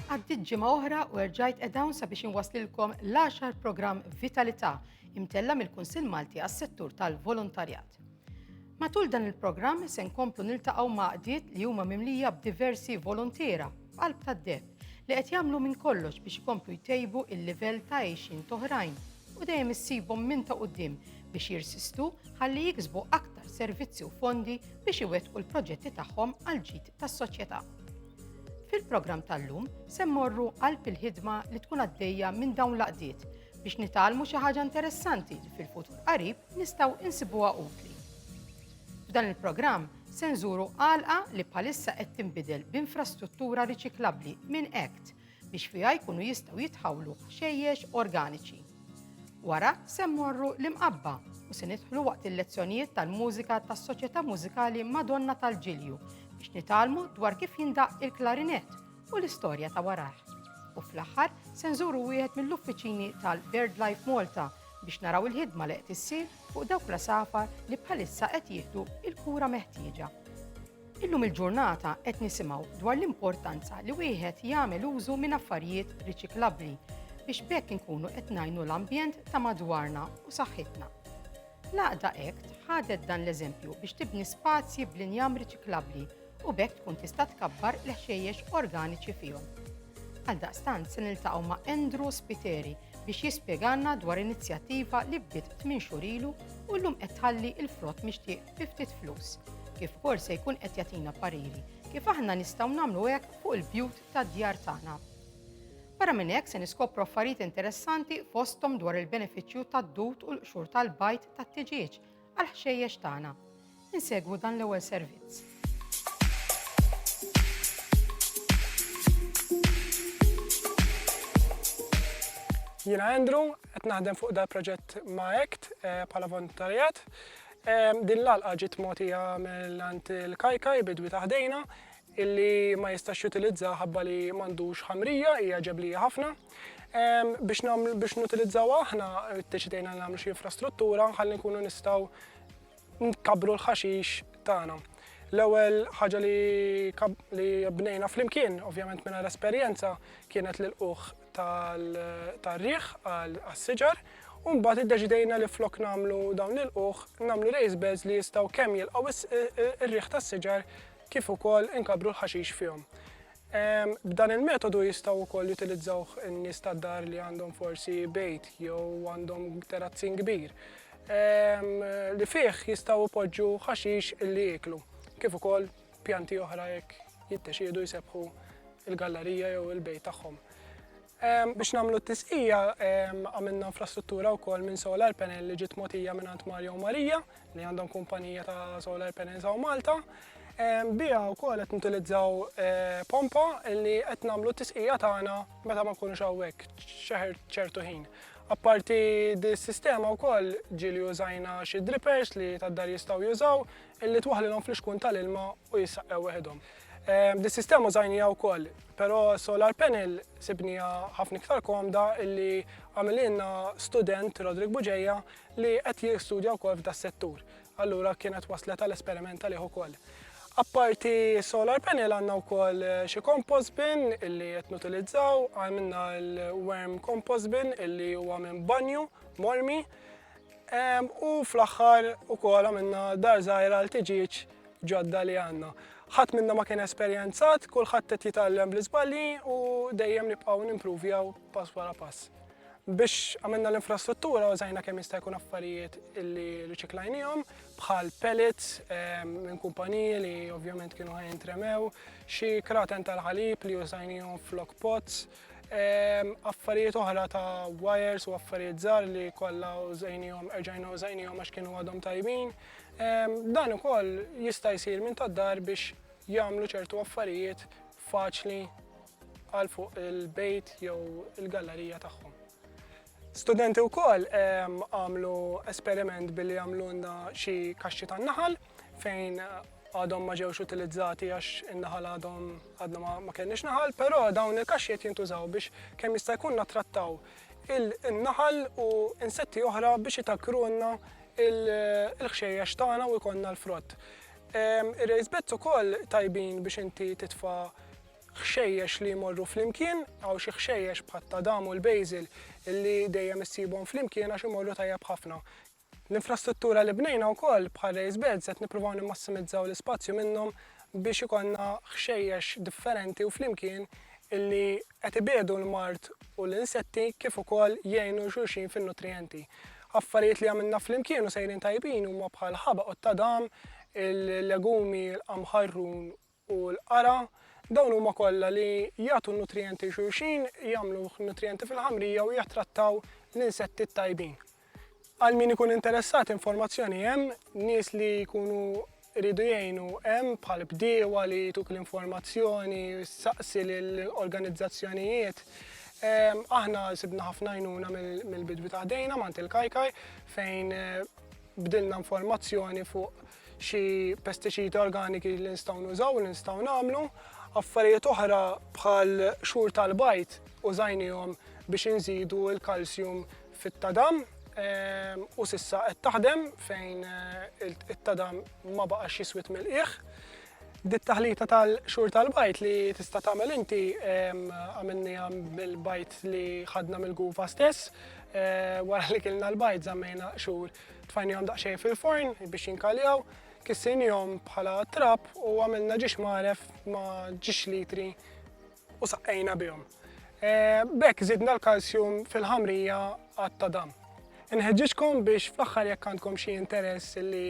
Għaddiet ġimgħa oħra u erġajt qed hawn sabiex inwaslilkom l-10 programm Vitalità imtella mill-Kunsill Malti għas-settur tal-volontarjat. Matul dan il-programm se nkomplu niltaqgħu maqdiet li huma mimlija b'diversi volontiera f'qalb tad-deb li qed jagħmlu minn kollox biex ikomplu jtejbu il-livell ta' għejxin toħrajn u dejjem issibhom minn ta' qudiem biex jirsistu ħalli jiksbu aktar servizzi u fondi biex iwettqu l-proġetti tagħhom għal ġid tas-soċjetà. Fil-programm tal-lum se mmorru qalb il-ħidma li tkun għaddejja minn dawn l-għaqdiet biex nitgħallmu xi ħaġa interessanti li fil-futur qarib nistgħu insibuha utli. F'dan il-programm se nżuru għalqa li bħalissa qed tinbidel b'infrastruttura riċiklabbli minn ACT biex fiha jkunu jistgħu jitħawlu ħxejjex organiċi. Wara se mmorru l-imqabba u se nidħlu waqt il-lezzjonijiet tal-mużika tas-Soċjetà Mużikali Madonna tal-Ġilju biex nitalmu dwar kif jindaq il-klarinett u l-istorja ta' warah. U fl-aħħar se nżuru wieħed mill-uffiċini tal-BirdLife Malta biex naraw il-ħidma li qed issir fuq dawk l-asafar li bħalissa qed jieħdu il-kura meħtieġa. Illum il-ġurnata qed nisimgħu dwar l-importanza li wieħed jagħmel użu minn affarijiet riċiklabbli biex bekk inkunu qed ngħinu l-ambjent ta' madwarna u saħħitna. L-għaqda Act ħadet dan l-eżempju biex tibni spazji bl-injam riċiklabbli u bekk tkun tista' tkabbar l-ħxejjex organiċi fihom. Għal daqstant se niltaqgħu ma' Andrew Spiteri biex jispjeganna dwar inizjattiva li bdiet tmien xurilu u llum qed tħalli il-frott mixtieq fi ftit flus. Kif ukoll se jkun qed jagħtina pariri kif aħna nistgħu nagħmlu hekk fuq il-bjut tad-djar tagħna. Barra minn hekk se niskopru affarijiet interessanti fosthom dwar il-benefiċċju tad-dut u l-qxur tal-bajt tat-tiġieġ għal ħxejjex tagħna. Insegwu dan l-ewwel servizz. Jina Andrew, qed naħdem fuq dal proġett ma' ACT eh, bħala volontarjat. Din l-għalqa ġiet mogħtija minn għand il-Kajkaj, bidwi ta' ħdejna, illi ma jistax jutilizzaha ħabba li m'għandux ħamrija, hija ġeblija ħafna. Biex nagħmlu biex nutilizzawha aħna ddeċidejna li nagħmlu xi infrastruttura ħalli nkunu nistgħu nkabbru l-ħaxix tagħna. L-ewwel ħaġa li li bnejna flimkien, ovvjament mingħajr esperjenza, kienet l-ilqugħ tar-riħ għas-siġar u mbagħad iddeċidejna li flok nagħmlu dawn il-qugħ nagħmlu raised beds li jistgħu kemm jilqgħu r-riħ tas-siġar kif ukoll inkabbru l-ħaxix fihom. Ehm, b'dan il-metodu jistgħu wkoll jutilizzaw in-nies tad-dar li għandhom forsi bejt jew għandhom terazzin kbir ehm, li fih jistgħu poġġu ħaxix illi jieklu kif ukoll Pjanti oħra jekk jiddeċiedu jsebħu il-gallerija jew il-bejt tagħhom. Ehm, biex nagħmlu t-tisqija ehm, għamilna infrastruttura wkoll minn solar panel li ġiet mogħtija minn Ant Mario Marija li għandhom kumpanija ta' solar panels hawn Malta. Ehm, Bija wkoll qed nutilizzaw eh, pompa li qed nagħmlu t-tisqija tagħna meta ma nkunux hawnhekk xeħer ċertu ħin. Apparti dis-sistema wkoll ġieli użajna xi drippers li tad-dar jistgħu jużaw, illi twaħħlilhom fl-ixkun tal-ilma u jissaqqew weħidhom. Ehm, dis-sistema użajnija wkoll, però solar panel sibnija ħafna iktar komda illi għamililna student Rodrik Buġeja li qed jistudja wkoll f'da settur. Allura kienet waslet għal esperimenta liħu ukoll. Apparti solar panel għanna u koll eh, xie compost bin illi jett nutilizzaw, għamilna l-worm compost bin illi huwa minn banju, mormi, U fl-aħħar ukoll għamilna dar żgħira għal tiġieġ ġodda li għandna. Ħadd minna ma kien esperjenzat, kulħadd qed jitgħallem bl-iżbalji u dejjem nibqgħu nimpruvjaw pass wara pass. Biex għamilna l-infrastruttura użajna kemm jista' jkun affarijiet illi riċiklajnihom bħal pellets ehm, minn kumpaniji li ovvjament kienu ħajintremew, xi kraten tal-ħalib li użajnihom flok pots, Affarijiet oħra ta' wires u affarijiet żgħar li kollha użajnihom, erġajna użajnihom għax kienu għadhom tajbin. Dan ukoll jista' jsir minn tad-dar biex jagħmlu ċertu affarijiet faċli għal fuq il-bejt jew il-gallerija tagħhom. Studenti wkoll għamlu esperiment billi għamlunna xi kaxxi tan-naħal fejn għadhom ma ġewx utilizzati għax in-naħal għadhom għadna ma kenniex naħal, però dawn il-kaxxi qed jintużaw biex kemm jista' jkun nattrattaw il-naħal u insetti oħra biex itakrunna il-ħxejjex tagħna u jkollna l-frott. Ir-raised beds ukoll tajbin biex inti titfa' ħxejjex li jmorru flimkien, hawn xi ħxejjex bħat-tadam u l-basil li dejjem issibhom flimkien għax imorru tajjeb ħafna. L-infrastruttura li bnejna wkoll bħal raised beds qed nippruvaw nimmassimizzaw l-ispazju minnhom biex ikollna ħxejjex differenti u flimkien illi qed ibiegħdu l-mard u l-insetti kif ukoll jgħinu lil xulxin fin-nutrijenti. Affarijiet li għamilna flimkien u sejrin tajbin huma bħal ħabaq u t-tadam, il-legumi, il-qamħarrun u l-qara, dawn huma kollha li jagħtu n-nutrijenti lil xulxin, jagħmlu nutrijenti fil-ħamrija u jattrattaw l-insetti t-tajbin. Għal min ikun interessat informazzjoni hemm, nies li jkunu jridu jgħinu hemm bħal bdiewa li jtuk l-informazzjoni, saqsi lil organizzazzjonijiet. Aħna sibna ħafna għajnuna mill-bidwi ta' ħdejna mant il-Kajkaj fejn bdilna informazzjoni fuq xi pestiċidi organiki li nistgħu nużaw, li nistgħu nagħmlu, affarijiet oħra bħal xhur tal-bajt użajnihom biex inżidu l-kalsjum fit-tadam ehm, u sissa qed taħdem fejn eh, it-tadam ma baqax jiswit mill-qiegħ. Dit taħlita tal-xhur tal-bajt li tista' tagħmel inti ehm, għamilni bil-bajt li ħadna mill-gufa stess, eh, wara li kilna l-bajt żammejna xhur Tfajnihom daqsxejn fil-forn biex jinkaljaw, kissejnihom bħala trab u għamilna ġiex magħref ma' ġiex litri u saqqejna bihom. E, b'hekk żidna l-kalsjum fil-ħamrija għat dam. Inħeġġiġkom biex fl-aħħar jekk għandkom xi interess li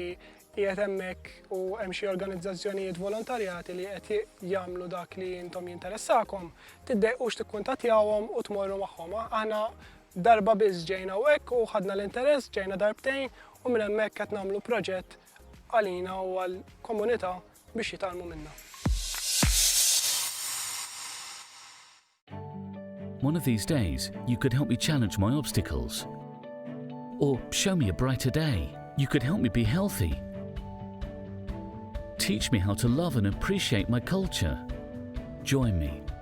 qiegħed hemmhekk u hemm xi organizzazzjonijiet volontarjati li qed jagħmlu dak li intom jinteressakom, tiddejqux tikkuntattjawhom u tmorru magħhom. Aħna Darba biss ġejna hawnhekk u ħadna l-interess, ġejna darbtejn u minn hemmhekk qed nagħmlu proġett għalina u għall-komunità biex jitgħallmu minna. One of these days you could help me challenge my obstacles. Or show me a brighter day. You could help me be healthy. Teach me how to love and appreciate my culture. Join me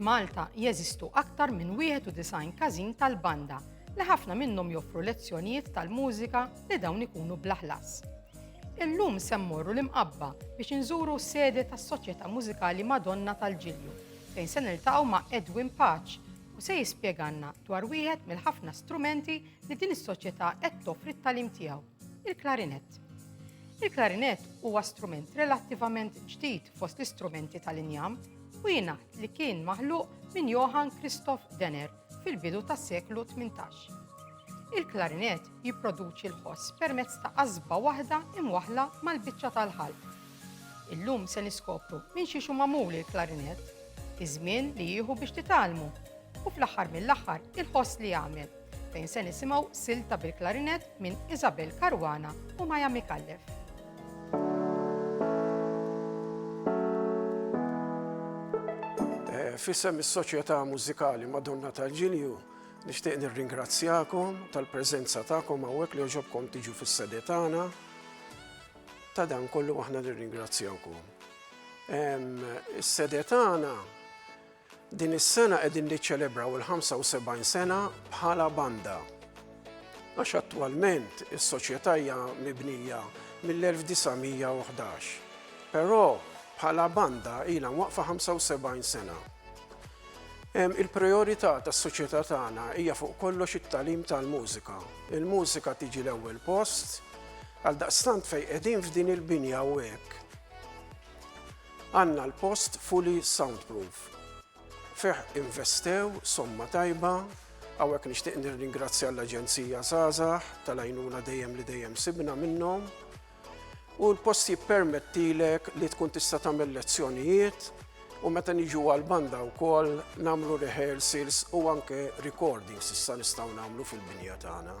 F'Malta jeżistu aktar minn 91 każin tal-banda li ħafna minnhom joffru lezzjonijiet tal-mużika li dawn ikunu bla ħlas. Illum se mmorru l-imqabba biex inżuru s-sede tas-Soċjetà Mużikali Madonna tal-Ġilju fejn se niltaqgħu ma' Edwin Paċ u se jispjeganna dwar wieħed mill-ħafna strumenti li din is-soċjetà qed toffri t-talim tiegħu. Il-klarinett. Il-klarinett huwa strument relattivament ġdid fost l-istrumenti tal-injam u jingħad li kien maħluq minn Johann Christoph Denner fil-bidu tas-seklu 18. Il-klarinett jipproduċi l-ħoss permezz ta' qasba waħda imwaħla mal-biċċa tal-ħalq. Illum se niskopru minn xi xu magħmul il-klarinett, iż-żmien li jieħu biex titalmu u fl-aħħar mill-aħħar il-ħoss li jagħmel. fejn se nisimgħu silta bil-klarinett minn Isabel Caruana u Maja Mikallef. Eh, fissem is-Soċjetà Mużikali Madonna tal-Ġilju nixtieq nirringrazzjakom tal-preżenza tagħkom hawnhekk li ġobkom tiġu fis-sedetana. Ta' dan kollu aħna nirringrazzjawkom. Is-sedetana Din is-sena qegħdin niċċelebraw il-75 sena bħala banda. Għax attwalment is-soċjetà hija mibnija mill-1911. Però bħala banda ilha waqfa 75 sena. Il-priorità tas-soċjetà tagħna hija fuq kollox it-tagħlim tal-mużika. Il-mużika tiġi l-ewwel post għal daqstant fejn qegħdin f'din il-binja u hekk. Għandna l-post fully soundproof. Fih investew somma tajba, hawnhekk nixtieq nirringrazzja l-Aġenzija Żgħażagħ tal-għajnuna dejjem li dejjem sibna minnhom. U l-post jippermettilek li tkun tista' tagħmel lezzjonijiet u meta niġu għall-banda wkoll nagħmlu rehearsals u anke recordings issa nistgħu nagħmlu fil-binja tagħna.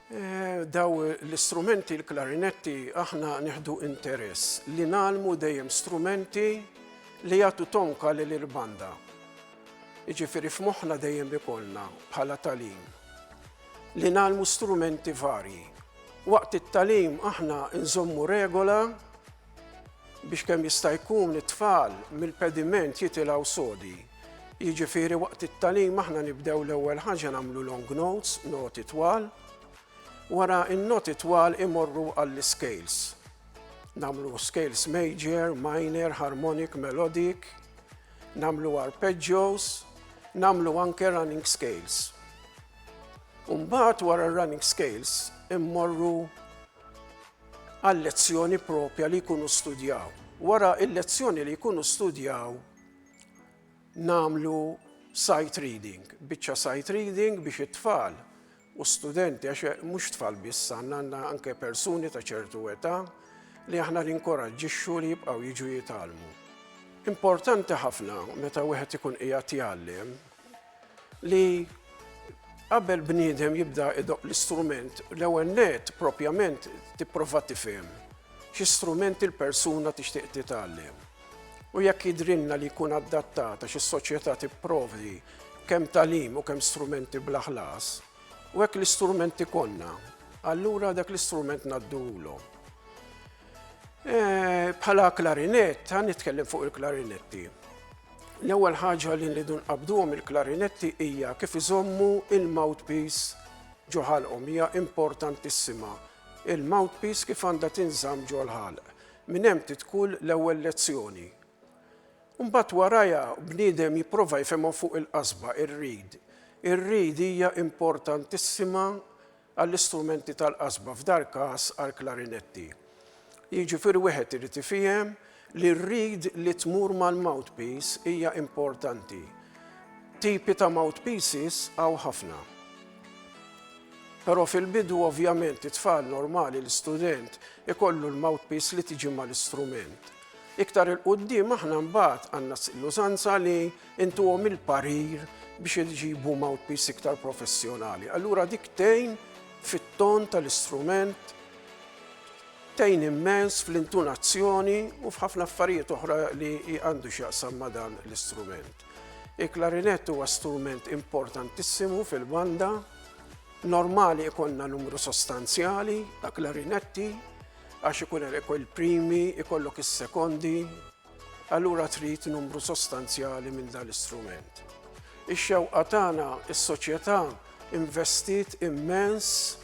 Dawn l-istrumenti, l-klarinetti, aħna nieħdu interess li ngħallmu dejjem strumenti li jagħtu tonka lil il-banda. Jiġifieri f'moħħna dejjem ikollna bħala tagħlim li ngħallmu strumenti varji. Waqt it-tagħlim aħna nżommu regola biex kemm jista' jkun it-tfal mill-pediment jitilgħu sodi. Jiġifieri waqt it-tagħlim aħna nibdew l-ewwel ħaġa nagħmlu long notes, noti twal, wara n-noti twal imorru għall-iscales. Nagħmlu scales major, minor, harmonic, melodic, nagħmlu arpeggios, nagħmlu anke running scales. Umbat wara running scales immorru għal lezzjoni propja li jkunu studjaw. Wara il-lezzjoni li jkunu studjaw nagħmlu sight reading, biċċa sight reading biex it-tfal u studenti, għax eh, mhux tfal biss għandna għandna anke persuni ta' ċertu età li aħna ninkoraġġixxu li jibqgħu jiġu jitgħallmu. Importanti ħafna meta wieħed ikun qiegħed jgħallem li qabel bniedem jibda idoq l-istrument l-ewwel net propjament tipprova tifhem xi strumenti l-persuna tixtieq titgħallem. u jekk jidhrilna li jkun adattat għax is-Soċjetà tipprovdi kemm tagħlim u kemm strumenti bla ħlas, u hekk l-istrument ikollna, allura dak l-istrument ngħadduhulhom. Eh, bħala klarinett, għan nitkellem fuq il-klarinetti. L-ewwel ħaġa li nridu nqabduhom il-klarinetti hija kif iżommu il-mouthpiece ġoħalqhom hija importantissima. Il-mouthpiece kif għandha tinżamm ġol-ħalq. Minn hemm tidħol l-ewwel lezzjoni. Imbagħad warajha bniedem jipprova jifhimha fuq il-qasba, ir-reed. Ir-reed hija importantissima għall-istrumenti tal-qasba, f'dal-każ għall-klarinetti. Jiġifieri wieħed irid ifihem li r-reed li tmur mal-mouthpiece hija importanti. Tipi ta' mouthpieces hawn ħafna. Però fil-bidu ovvjament it-tfal normali, l-istudent, ikollu l-mouthpiece li tiġi mal-istrument. Iktar 'il quddiem aħna mbagħad għandna l-użanza li intuhom il-parir biex iġibu mouthpiece iktar professjonali. Allura dik tgħin fit-ton tal-istrument Tgħin immens fl-intunazzjoni u f'ħafna affarijiet oħra li għandu x'jaqsam ma' dan l-istrument. Il-klarinett huwa strument importantissimu fil-banda. Normali jkollna numru sostanzjali ta' klarinetti għax ikun hemm il-primi, ikollok is-sekondi, allura trid numru sostanzjali minn dan l-istrument. Ix-xewqa tagħna, is-soċjetà investiet immens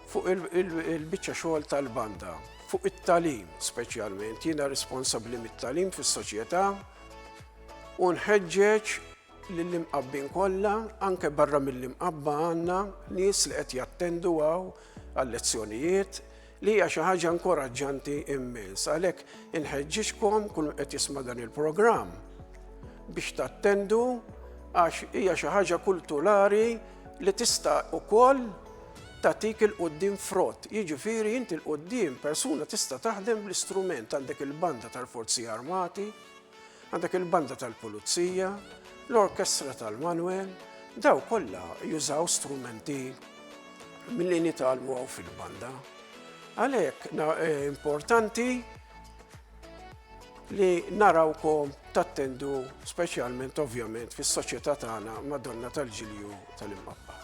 fuq il-biċċa xogħol tal-banda, fuq it-talim speċjalment, jiena responsabbli mit-talim fis-soċjetà u nħeġġeġ lill-imqabbin kollha, anke barra mill-imqabba għandna nies li qed jattendu għaw għal-lezzjonijiet, li hija xi ħaġa inkoraġġanti immens. Għalhekk inħeġġiġkom kull qed jisma' dan il-programm biex tattendu għax hija xi ħaġa kulturali li tista' ukoll tatik il-qoddim frott. Jiġifieri inti l-qoddim persuna tista' taħdem bl-istrument għandek il-banda tal-Forzi Armati, Għandek il-banda tal-pulizija, l-orkestra tal-Manwel, daw kollha jużaw strumenti milli nitalmu għaw fil-banda. Għalhekk eh, importanti li narawkom tattendu speċjalment ovvjament fis-soċjetà tagħna Madonna tal-Ġilju tal-Imqabba.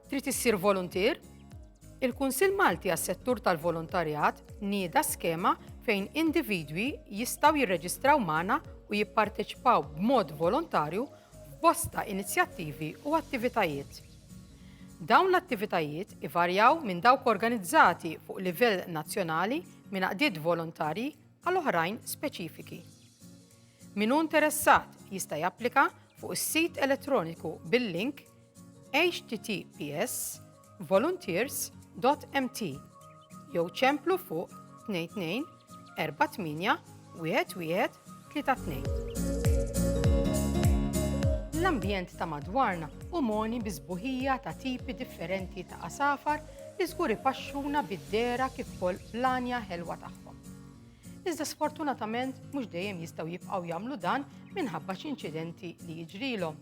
Trid issir voluntier? Il-Kunsill Malti għas-Settur tal-Volontarjat nieda skema fejn individwi jistgħu jirreġistraw magħna u jipparteċipaw b'mod volontarju f'bosta inizjattivi u attivitajiet. Dawn l-attivitajiet ivarjaw minn dawk organizzati fuq livell nazzjonali minn għaqdiet volontarji għal oħrajn speċifiki. Min hu interessat jista' japplika fuq is-sit elettroniku bil-link https volunteers.mt jew ċemplu fuq 22 48 11 32. L-ambjent ta' madwarna u moni bizbuħija ta' tipi differenti ta' asafar li żgur ipaxxuna bid-dera kif ukoll l-anja ħelwa tagħhom. Iżda sfortunatament mhux dejjem jistgħu jibqgħu jagħmlu dan minħabba xi inċidenti li jiġrilhom.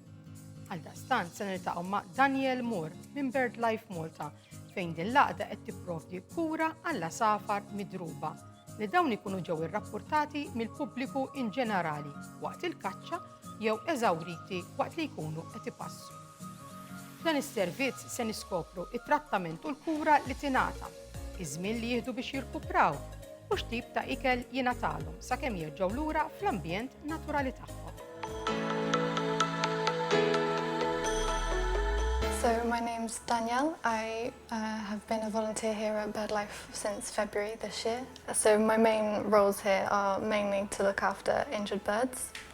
Għaldaqstant se niltaqgħu ma' Daniel Moore minn BirdLife Malta fejn din l-għaqda qed tipprovdi kura għall safar midruba li dawn ikunu ġew irrapportati mill-pubbliku in ġenerali waqt il-kaċċa jew eżawriti waqt li jkunu qed ipassu. F'dan is-servizz se niskopru t-trattament u l-kura li tingħata, iż-żmien li jieħdu biex jirkupraw u x'tip ta' ikel jingħatalhom sakemm jerġgħu lura fl-ambjent naturali tagħhom. So my name's Danielle. I uh, have been a volunteer here at BirdLife since February this year. So my main roles here are mainly to look after injured birds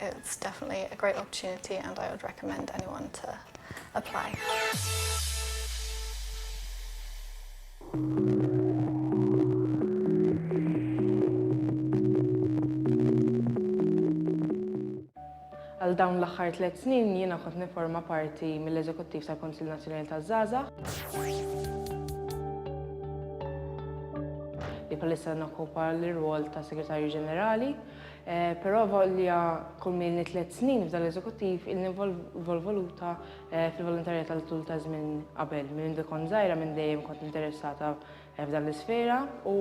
It's definitely a great opportunity and I would recommend anyone to apply. Għal dawn l-aħħar tliet snin jiena kont nifforma parti mill-Eżekuttiv tal-Kunsill Nazzjonali taż-Żgħażagħ. Li bħalissa nokkupa l-irwol ta' Segretarju Ġenerali. Però avolja kulma ilni tliet snin f'dan l-Eżekuttiv, ilni nvolvoluta fil-volontarjat għal tul ta' żmien qabel. Minn mindu kont żgħira minn dejjem kont interessata f'dan l-isfera u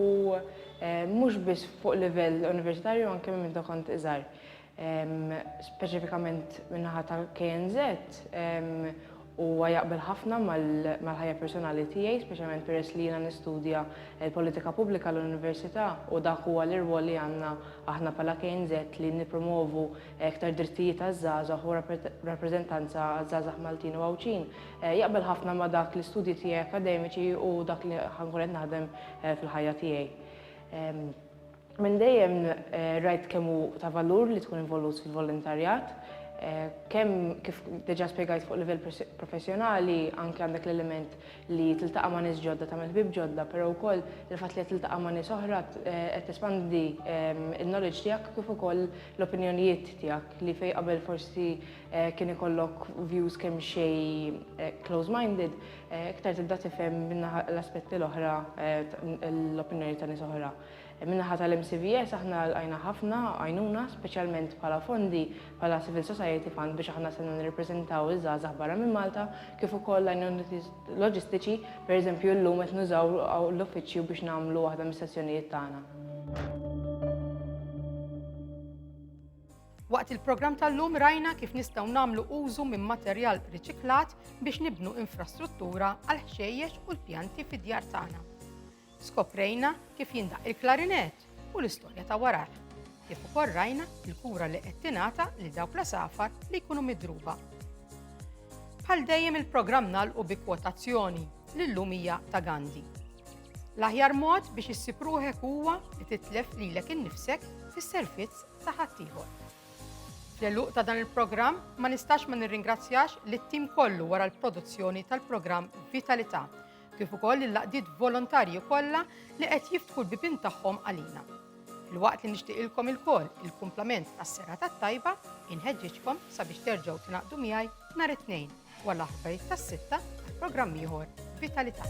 mhux biss fuq livell universitarju anke minn mindu kont iżgħir. Speċifikament min-naħa ta' KNZ, Huwa jaqbel ħafna mal-ħajja personali tiegħi, speċjalment peress li jiena nistudja l-politika pubblika l-Università u dak huwa l-irwol li għandna aħna bħala KNZ li nippromwovu iktar drittijiet għaż-żgħażagħ u rappreżentanza għaż-żgħażagħ Maltin u Għawdxin. Jaqbel ħafna ma' dak l-istudji tiegħi akkademiċi u dak li ħa nkun qed naħdem fil-ħajja tiegħi. Minn dejjem rajt kemm hu ta' valur li tkun involut fil-volontarjat, kemm kif deġa spjegajt fuq livell professjonali anke għandek l-element li tiltaqa' ma' nies ġodda tagħmel ħbieb ġodda però wkoll il-fatt li qed tiltaqa' ma' nies oħra qed tespandi n-knowledge tiegħek kif ukoll l-opinjonijiet tiegħek li fejn qabel forsi kien ikollok views kemm xejn close minded iktar tibda tifhem min-naħa l-aspetti l-oħra l-opinjoni ta' nies oħra. Min-naħa tal-MCVS aħna lqajna ħafna għajnuna, speċjalment bħala fondi bħala Civil Society Fund biex aħna sena nirrepreżentaw iż-żgħażagħ barra minn Malta, kif ukoll għajnuniet loġistiċi, pereżempju llum qed nużaw l-uffiċċju biex nagħmlu waħda mis-sessjonijiet tagħna. Waqt il-programm tal-lum rajna kif nistgħu nagħmlu użu minn materjal riċiklat biex nibnu infrastruttura għal ħxejjex u l-pjanti fid-djar tagħna. Skoprejna kif jindaqq il-klarinett u l-istorja ta' warajh, kif ukoll rajna l-kura li qed tingħata lil dawk l-għasafar li jkunu midruba. Bħal dejjem il-programm nagħlqu bi kwotazzjoni li llum hija ta' Gandhi. L-aħjar mod biex issib ruħek huwa li titlef lilek innifsek fis-servizz ta' ħaddieħor. Fl-eluq ta' dan il-programm ma nistax ma nirringrazzjax lit-tim kollu wara l-produzzjoni tal-programm Vitalità kif ukoll lill-għaqdiet volontarji kollha li qed jiftħu l-bibien tagħhom għalina. Filwaqt li nixtieqilkom ilkoll il-kumplament tas-sera tat-tajba, inħeġġiġkom sabiex terġgħu tingħaqdu miegħi nhar it-Tnejn wara l-aħbarijiet tas-sitta programm ieħor Vitalità.